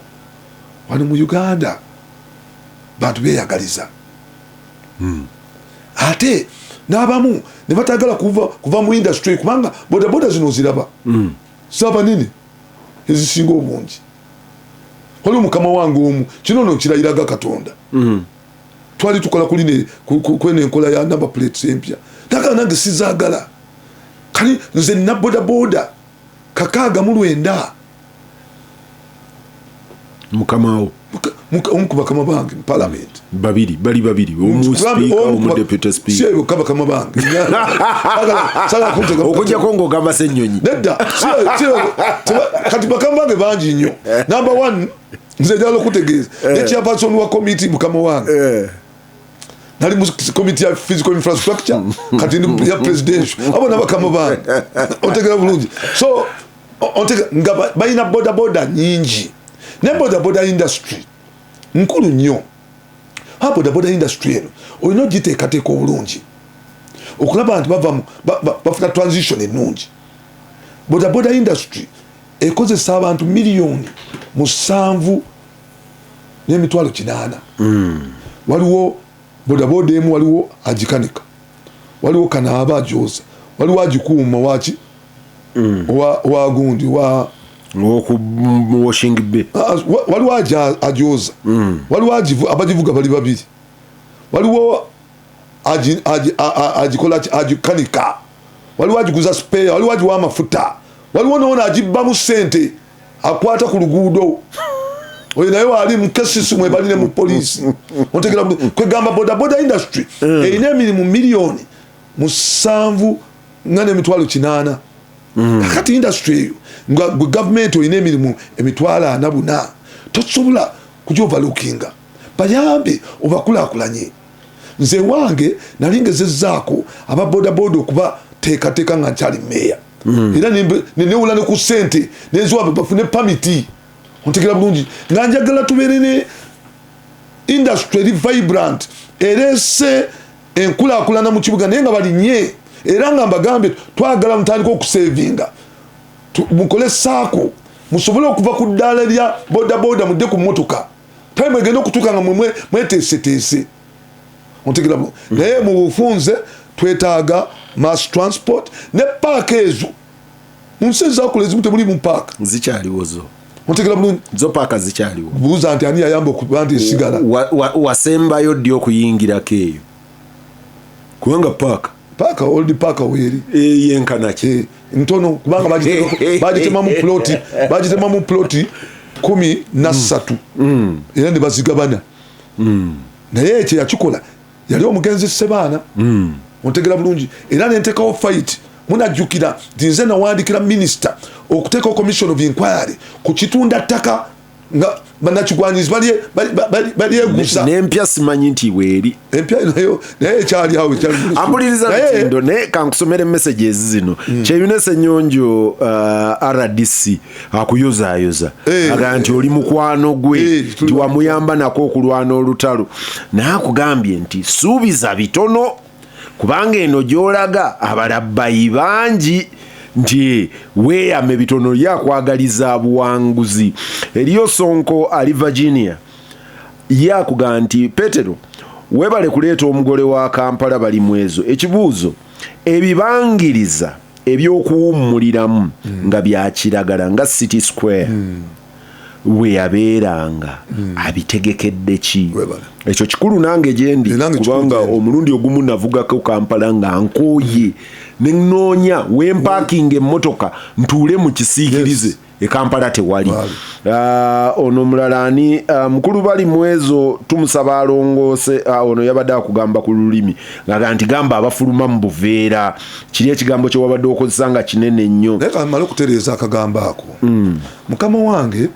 wano mu uganda bantu beyagaliza mm. ate n'abamu ne batagala kuva, kuva mu industry kubanga bodaboda zino ziraba mm. saba nini ezisinga obungi waliwo mukama wange omu kino no nkirayiraga katonda mm. twali tukola kuline kweno enkola ya number plates empya naga nange sizagala kali nze nabodaboda kakaaga mu lwenda mukamawo omu ku bakama bange mupalamenti babiri bali babiri omusipiikaomudeputesipiikaba bakama bange okujjako ngaogamba se ennyonyi nedda kati bakama bange bangi nnyo eh. namba one nze njala okutegeeza eh. nekyapasoni wa komiti mukama wange eh. nali mu komiti ya physical infrastructure kati ya presidential abo nabakama bange otegera bulungi so otega nga balina bodaboda nyingi naye bodaboda industry nkulu nnyo ha bodaboda industry eno olina ogiteekateeka obulungi okulaba nti bavamu bafuna transition ennungi bodaboda industry ekozesa abantu miliyoni musanvu n'emitwalo kinaana hmm. waliwo bodaboda emu waliwo agikanika waliwo kanaaba ajoza waliwo agikuuma waki mm. wagundi wa waliwo ajoza mm. waliwo abagivuga bali babiri waliwo agikola agikanika waliwo agiguza speya waliwo agiwa amafuta waliwo noona agibbamu sente akwata ku luguudo oyo naye waali mukesisi mwebalire mu poliisi otegera kwegamba bodaboda industry eh. erina emirimu miliyoni musanvu nga nemitwalo kinaana mm. kakati industry eyo nga gwe gavumenti olina emirimu emitwalo ana buna tosobola kujovalukinga bayambe obakulakulanye nze wange nali ngezezaako aba bodaboda okuba teekateeka nga nkyali meeya mm. era nenewola ne ku sente neziwa bafune pamiti ontegera bulungi nga njagala tubeere ne industry eri vibrant erese enkulakulana mu kibuga naye nga balinye era nga mbagambye twagala mutandika okusevinga mukole saako musobole okuva ku ddaala lya bodaboda mudde ku motoka time egenda okutuuka nga mweteeseteese mutegera mm. naye mu bufunze twetaaga mass transport ne paaka ezo mu nsi ezakula ezimu temuli mu paaka zikyaliwozo mutegera bulungi zo paaka zikyaliwo buuza nti ani yayamba okuba nti esigala wasembayo ddi okuyingirako eyo kubanga paaka paaka old paaka weeri eh, yenkanaki eh, ntono kubanga bagitemamu ploti bagitemamu ploti kumi nassatu mm. mm. era ne bazigabana mm. naye ekyo yakikola yali omugenzi sebaana mm. ontegera bulungi era nentekawo fight munajjukira nti nze nawandikira minisita okuteekawo commission of inquiry ku kitunda ttaka nga banakigwanyizi balyegusa nempya simanyi nti weeri empya nayo naye ekyali awo ambuliriza lutindo naye kankusomere messages zino mm. kyeyunesa enyonjo uh, rdc akuyozaayoza hey, eh, aga nti oli mukwano gwe hey, eh, nti wamuyamba nako okulwana olutalo naye akugambye nti suubiza bitono kubanga eno gyolaga abalabbayi bangi nti weeyame bitono ye akwagaliza buwanguzi eriyo sonko ali virginia ye akugaa nti petero webale kuleeta omugole wa kampala bali mwezo ekibuuzo ebibangiriza ebyokuwummuliramu mm. nga byakiragala nga city square mm. we yabeeranga mm. abitegekedde ki ekyo kikulu nange gyendi kubanga omulundi ogumu navugako kampala nga nkooye nenoonya wempakinga emmotoka ntuule mu kisiikirize e kampala tewali ah, ono omulala ani ah, mukulu bali mwezo tumusaba alongoose ah, ono yabadde akugamba ku lulimi ngaga nti gamba abafuluma mu buveera kiri ekigambo kyewabadde okozesa nga kinene nnyo naye kamala okutereeza akagambo ako hmm. mukama wange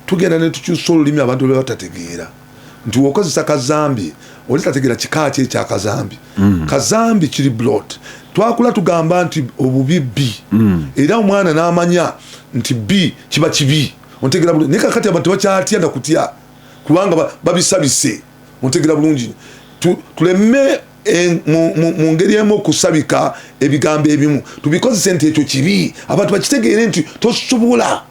tugenda netukyusa olulimi abantu lwebatategeera nti wokozesa kazambi oli tategera kika ki ekya kazambi mm. kazambi kiri blot twakula tugamba nti obubi bi mm. era omwana n'amanya nti bi kiba kibi ontegera bulungi naye kakati abantu tebakyatya nakutya kubanga babisabise ontegera bulungi tuleme eh, mu ngeri emu okusabika ebigambo ebimu tubikozese nti ekyo kibi abantu bakitegeere nti tosobola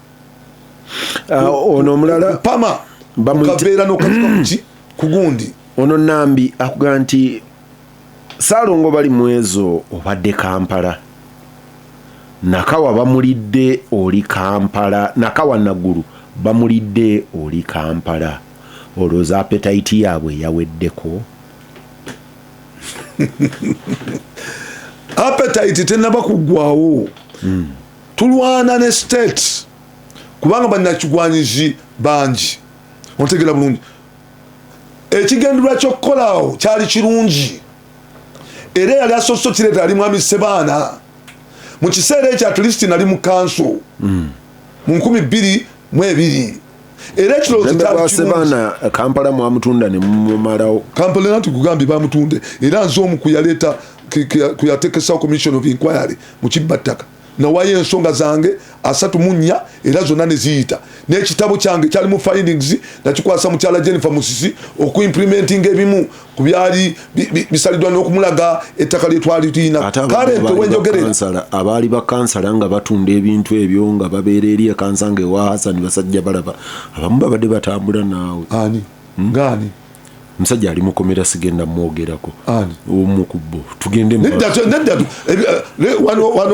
ah, ono omulala pama bamukabeera nokatuka kuki kugundi ono nambi akuga nti salongo bali mwezo obadde kampala nakawa bamulidde oli kampala nakawa nagulu bamulidde oli kampala olwoza apetayiti yaabwe yaweddeko apetayiti tenaba kugwawo hmm. tulwana ne state kubanga bannakigwanyizi bangi ontegera bulungi ekigendererwa kyokukolawo kyali kirungi era yali asoose okireeta ali mwami sebaana mu kiseera ekyo atleast nali mu kanso mu nkumi bbiri mu ebiri era ekirowoozosebaana kampala mwamutunda nemumumalawo kampala era ntikugambye bamutunde era nze omu kuyaleeta kuyatekesa commission of inquiry mu kibba ttaka nawayo ensonga zange asatu mu nnya era zonna ne ziyita n'ekitabo kyange kyali mu findings nakikwasa mukyala jennifer musisi okuimprimentinga ebimu ku byali bisalidwa n'okumulaga ettaka lye twali tulina kale ntewenjogerera abaali bakansala nga batunda ebintu ebyo nga babeera eri ekansa nga ewa hasani basajja balaba abamu babadde batambula naawe ani hmm? ngaani musajja ali mukomera sigenda mwogerako omu kubbo tugendewano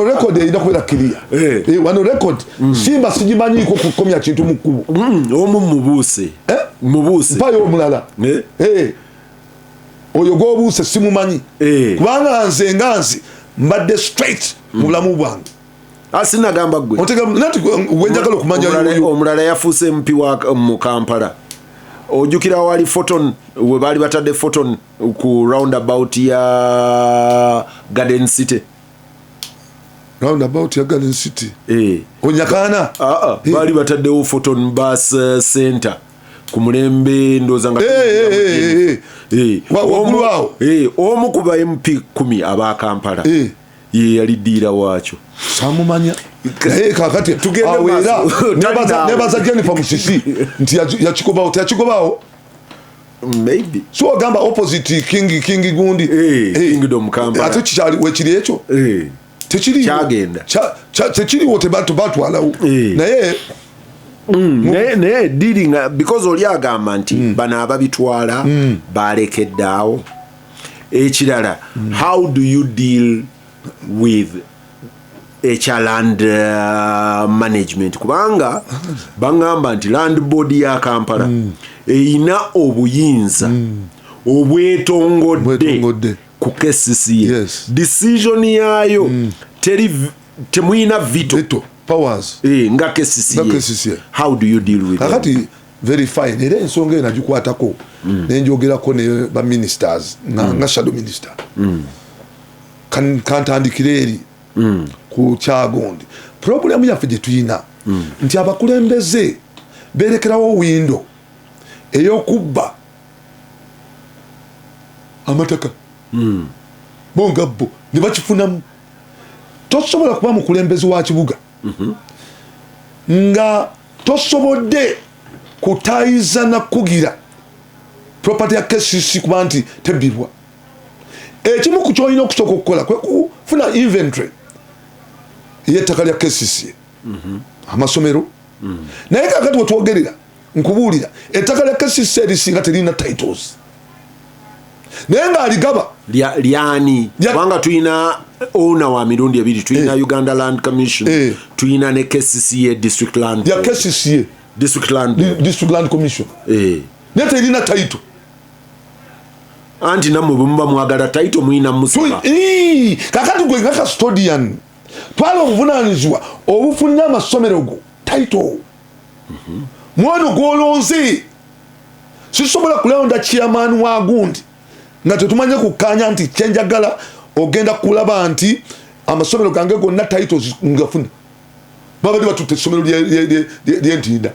rekod erina kubeera kiriya eh. eh, wano rekod hmm. simba sigimanyiko kukomya kintu mu kkubo hmm, omu mubuuse eh? mubuuse mpayo omulala eh? Eh. oyo gwobuuse simumanyi eh. kubanga nze nga nzi mbadde straight mu bulamu bwange asinagamba gwe wenjagala okumanya omulala yafuuse mpi mu kampala ojukira wali photon we baali batadde photon ku round about ya garden city round about ya garden city eh. onyakaana ah, ah. eh. baali bataddewo photon bus eh, center ku mulembe ndooza nga waggulu awo omu ku ba mp kumi aba kampala ye yali diira waakyo samumanya naye kakati tugendeera nebaza jennifer musisi nti yakikobawo teyakikobawo maybe so ogamba opposite king king gundi hey, hey. kingdom kamba ate kikyali wekiri ekyo hey. kyagenda tekiriwo tebatwalawo eh. naye Mm, naye naye diri nga because oli agamba nti mm. bano ababitwala mm. balekeddaawo ekirala mm. how do you deal with ekya land uh, management kubanga bangamba nti land board ya kampala mm. eyina obuyinza mm. obwetongodde ku kcca yes. decision yaayo mm. teri temuyina vito, vito. powers e, nga kcca how do you deal with kakati very fine era ensonga eyo nagikwatako mm. nenjogerako ne baministers nga, mm. nga shadow minister mm. kantandikire eri mm. ku kyagondi puroguramu yaffe gye tulina mm. nti abakulembeze berekerawo windo eyokubba amataka hmm. bo nga bo ne bakifunamu tosobola kuba mukulembezi wa kibuga mhm. nga tosobodde kutayiza nakugira property ya kcc kuba nti tebbibwa ekimu ku kyolina okusooka okukola kwekufuna inventory yettaka lya kcc mhm. amasomero mhm. naye kakati wetwogerera nkubuulira ettaka lya kcc erisinga teririna titles naye ng'aligaba lyani kubanga tulina owner wa mirundi ebiri tulina eh. uganda land commission eh. tulina ne kcca district land ya kcca district land district land commission eh. naye terina taito anti namwe bwemuba mwagala taito muyina musiba kakati gwe nga custodian twala obuvunanyizibwa obufunira amasomero go taito mwono gwolonze sisobola kulonda chairman wa gundi nga tetumanye kukanya nti kyenjagala ogenda kulaba nti amasomero gange gonna titles ngafuna babadde batutte essomero lyentinda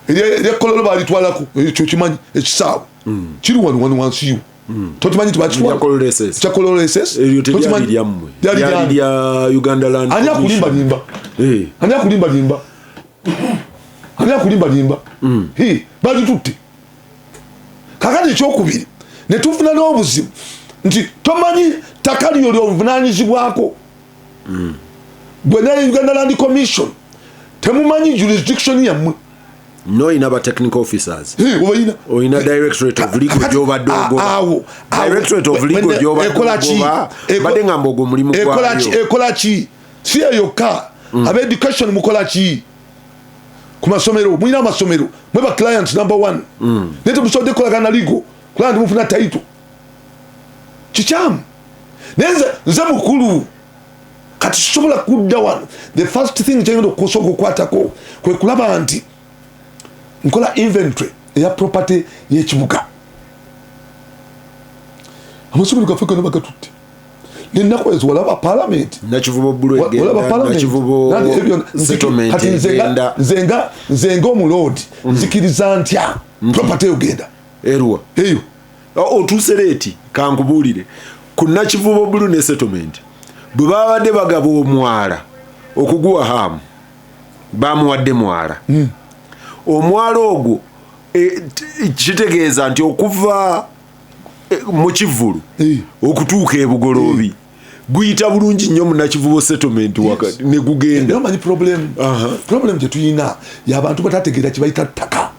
eryekololo balitwalako ekyo kimanyi ekisaawe mm. kiri wano wano wansi yo mm. tokimanyi nti bakitwalkyakololesesyalyaani akulimbalimba eh. ani akulimbalimba ani akulimbalimba mm. bagitutte kakati ekyokubiri netufuna n'obuzibu nti tomanyi ttaka lyo lyovunanyizibwako mm. gwe naye uganda land commission temumanyi jurisdiction yammwe noyina ba technical officers obayina oyina directorate of legal gyobadde ogobawo directorate of legal gyobadeogoba mbadde ngamba ogwo mulimu gwayo ekola ki si eyokka mm. aba education mukola ki ku masomero mulina amasomero mwe ba clients number one mm. naye temusobodde kukolagana ligo kulaba nti mufuna taito kikyamu naye nze mukulu kati sisobola kudda wano the first thing kyengenda okusooka okukwatako kwe kulaba nti nkola inventory eya property yekibuga amasomero gaffe gano bagatutte nenaku ezo walaba palamenti nzenga omuloodi mm. nzikiriza ntya mm. property yogenda eyo otuuse leeti kankubuulire ku nakivubo bulu ne settlement bwe babadde bagaba omwala okuguwa haamu bamuwadde mwala hmm. omwala ogwo e, kitegeeza nti okuva e, mu kivvulu hmm. okutuuka ebugoloobi hmm. guyita bulungi nnyo munakivubo settlement wakati negugendamanyi problem gyetuyina yabantu batategeera kibayita ttaka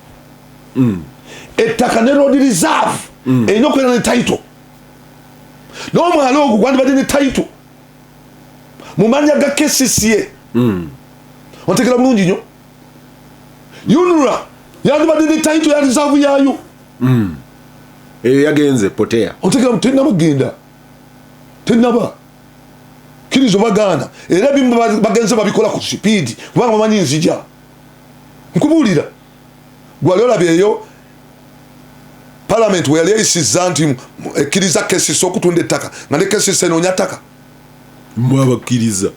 mm. ettaka ne road reserve mm. erina okubeera ne title n'omwala ogwo gwandibadde ne title mu manya ga kcca mm. otegera bulungi nyo unra yandibadde ne title ya reserve yayo mm. eyo yagenze potea otegera tenaba genda tenaba kirizo bagaana era bimu bagenze babikola ku sipiidi kubanga bamanyi nzija nkubuulira gwali olabyeyo palamenti weyali eyisiza nti ekkiriza kesisi okutunda ettaka nga ne kesisi enoonya ttaka mwabakkiriza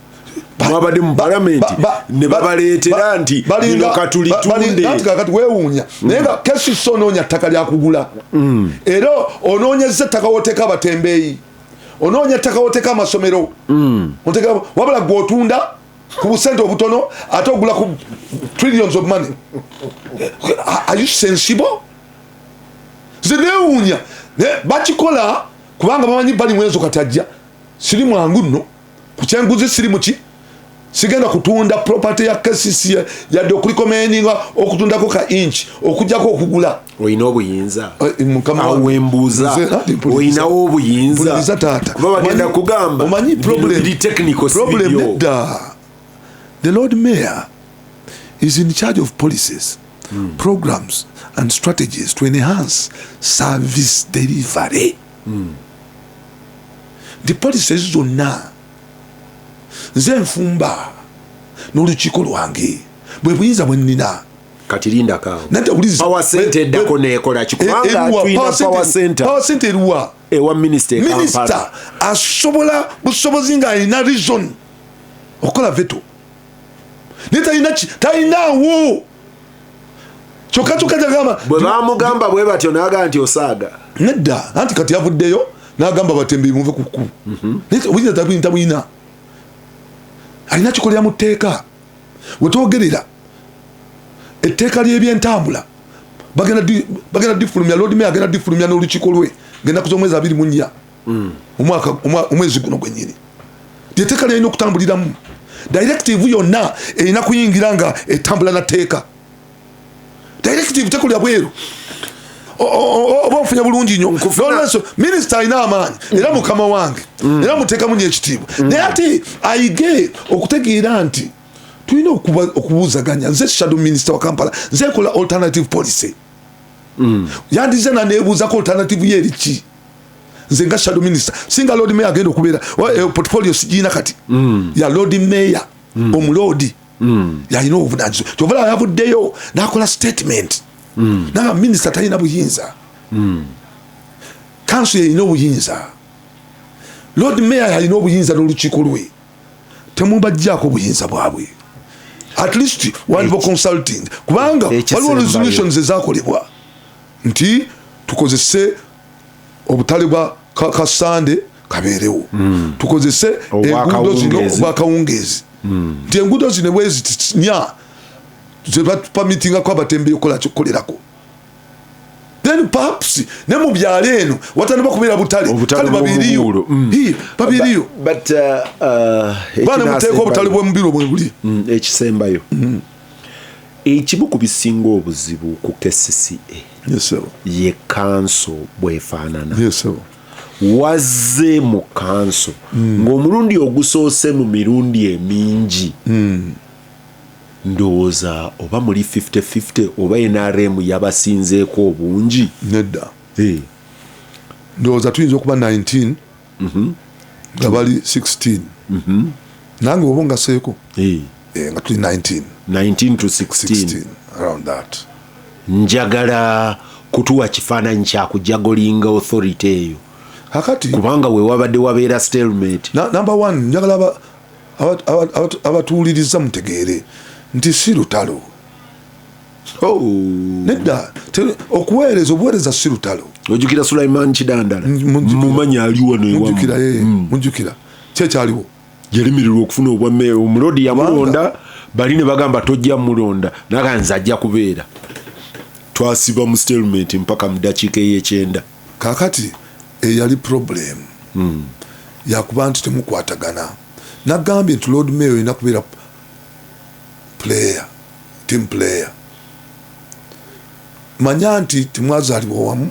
mwabadde mu palamenti ne babaleetera nti lino katulitundeati wewuunya mm. naye nga kesisi onoonya ttaka lyakugula mm. era onoonyeza ettaka woteeka abatembeeyi onoonya ettaka woteeka amasomero mm. wabula gweotunda ku busente obutono ate ogula ku trillions of money are you sensible nze newuunya bakikola kubanga bamanyi bali mwezo katajja siri mwangu nno ku kyenguzi siri muki sigenda kutunda property ya kcc yadde okulikomendinga okutundako ka inch okujjako okugula olina obuyinza awembuuza olinawo obuyinza kuba bagenda kugamba omanyi problemedda the lord mayor is in charge of policies mm. programs and strategies to enhance service delivery mm. the policies zonna nze nfumba n'olukiiko lwange bwe buyinza bwe nnina kati linda kawo nata ulizi power center dako ne kola kikubanga tuina power center power center ruwa ewa minister kampala minister asobola busobozi nga ina reason okola veto nita ina chi ta ina wo choka choka jagama bwe bamugamba bwe batyo naga anti osaga nedda anti kati yavuddeyo nagamba batembi muve kuku mm -hmm. nita ulizi nata kuinta buina alina chikolya muteka wetwogerera etteeka ly'ebyentambula bagenda difulumya lord mayor agenda difulumya n'olukiiko lwe ngenaku z'omwezi abiri mu nnya hmm. omwezi guno gwenyini lyeteeka lyalina okutambuliramu directive yonna erina kuyingira nga etambula na teeka directive tekulya bweru oba ofunye bulungi nyo nolwensonga minisita alina amaanyi era mukama wange mm. era muteekamu nyo ekitiibwa mm. naye ate ayige okutegeera nti tulina okubuuzaganya nze shadow minisita wa kampala nze nkola alternative policy mm. yandize nanebuuzako alternative ye eriki nze nga shadow minisita singa lord mayor agenda okubeera eh, portfolio sigirina kati ya lord mayor omuloodi mm. yalina obuvunanyizibwa kyova laba yavuddeyo nakola statement mm. naba minisita talina buyinza mm. kanso yalina obuyinza lord mayor yalina obuyinza nolukiiko lwe temubajjako obuyinza bwabwe at least waliwo consulting kubanga waliwo resolutions ezakolebwa nti tukozese obutale bwa kasande kabeerewo hmm. tukozese enguudo zino obwakawungeezi hmm. nti enguudo zino bwezitinya zebapamitingako abatembeyi okukola kyokukolerako then perhaps ne mu byalo eno watandika okubeera butale kale babiriyo hmm. babiriyo uh, uh, baana muteeka obutale bwemubiro bwebuli ekisembayo Ekimu ku bisinga obuzibu ku kcca ye kanso bwefaanana. Wazze mu kanso hmm. ng'omulundi ogusoose mu mirundi emingi hmm. ndowooza oba muli 5050 oba nrm yabasinzeeko obungi nedda eh. ndowooza tuyinza okuba 19 mhm. nga bali 16 mhm. nange oba ngaseeko eh, nga tuli 19 njagala kutuwa kifaananyi kyakujagolinga authority eyo akati kubanga wewabadde wabeera stelmate number one njagala abatuwuliriza mutegeere nti si lutalo Oh. nedda okuweereza obuweereza si lutalo ojukira sulaiman kidandala mumanyi aliwonojukira mm. eh, kyekyaliwo yalimirirwa okufuna obwa meeya omulodi yamulonda bali ne bagamba tojja mulonda naga nze ajja kubeera twasiba mu statement mpaka mu dakiika eyekyenda kakati eyali eh, problem mm. yakuba nti temukwatagana nagambye nti lord mayor olina kubeera player team player manya nti temwazalibwa wamu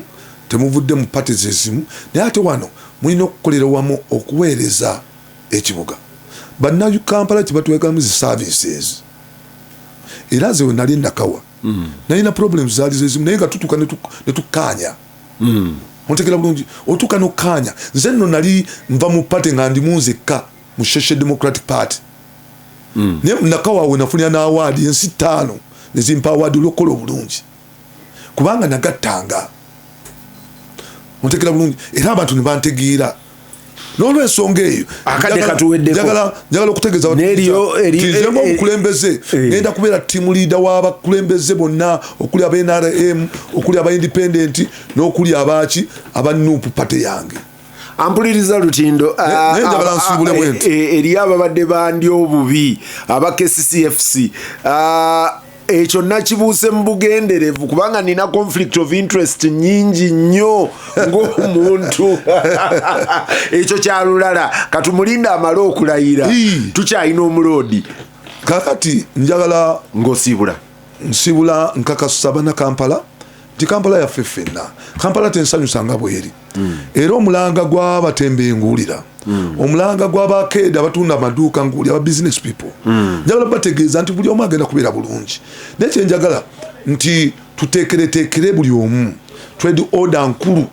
temuvudde mu pate zezimu naye ate wano mulina okukolera wamu okuweereza ekibuga bannakampala kyebatwekamu zi services era nze wenali nakawa mm. nalina problem zaali zezimu naye nga tutuka netukaanya mm. ontegera bulungi otuka nokaanya nze nno nali nva mu pate nga ndimu nzekka mu social democratic party mm. naye nakawawe nafunira n'awaadi ensi ttaano ne zimpa awaadi olw'okukola obulungi kubanga nagattanga ontegera bulungi era abantu ne bantegeera nolwensonga eyo akade katuweddeko njagala okutegeza nzemu omukulembeze eh. eh. ngenda kubeera tiimu liida w'abakulembeze bonna okuli aba nrm okuli aba independenti n'okuli abaaki aba nup pate yange ampuliriza lutindo ah, ah, ah, eh, eh, eriyo ababadde bandi obubi aba kccfc ekyo nakibuuse mu bugenderevu kubanga nina conflict of interest nyingi nnyo ng'omuntu ekyo kyalulala katumulinda amale okulayira tukyalina omuloodi kakati njagala ng'osiibula nsiibula nkakasa bana kampala nti kampala yaffe ffenna kampala tensanyusa nga bweri mm. era omulanga gwabatembe nguwulira mm. omulanga gwabakeeda abatunda amaduuka nguwulira aba business people mm. njagala bategeeza nti buli omu agenda kubeera bulungi naye kyenjagala nti tuteekereteekere buli omu twedi oda nkulu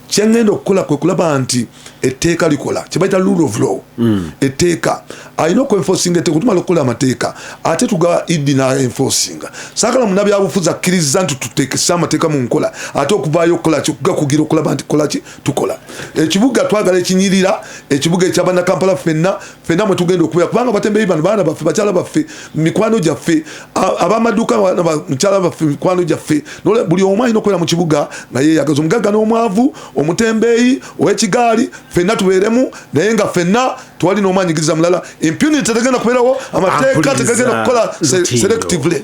kyengenda okukola kwe kulaba nti etteeka likola kyebaita rule of law mm. etteeka alina okuenfosinga etteeka tumala okukola amateeka ate tuga idi naenfosinga sakala munabyabufuzi akkiriza nti tutekese amateeka mu nkola ate okuvaayo okukola kyokugakugira okulaba nti kolaki tukola ekibuga twagala ekinyirira ekibuga ekyabanakampala fenna fenna mwe tugenda okubeera kubanga batembeyi bano baana baffe bakyala baffe mikwano gyaffe abamaduuka mukyala baffe mikwano gyaffe nole buli omu alina okubeera mu kibuga nga yeyagaza omugagga n'omwavu omutembeeyi ow'ekigaali fenna tubeeremu naye nga fenna twali n'omwanyigiriza mulala impunity tegenda kubeerawo amateeka tegagenda kukola selectively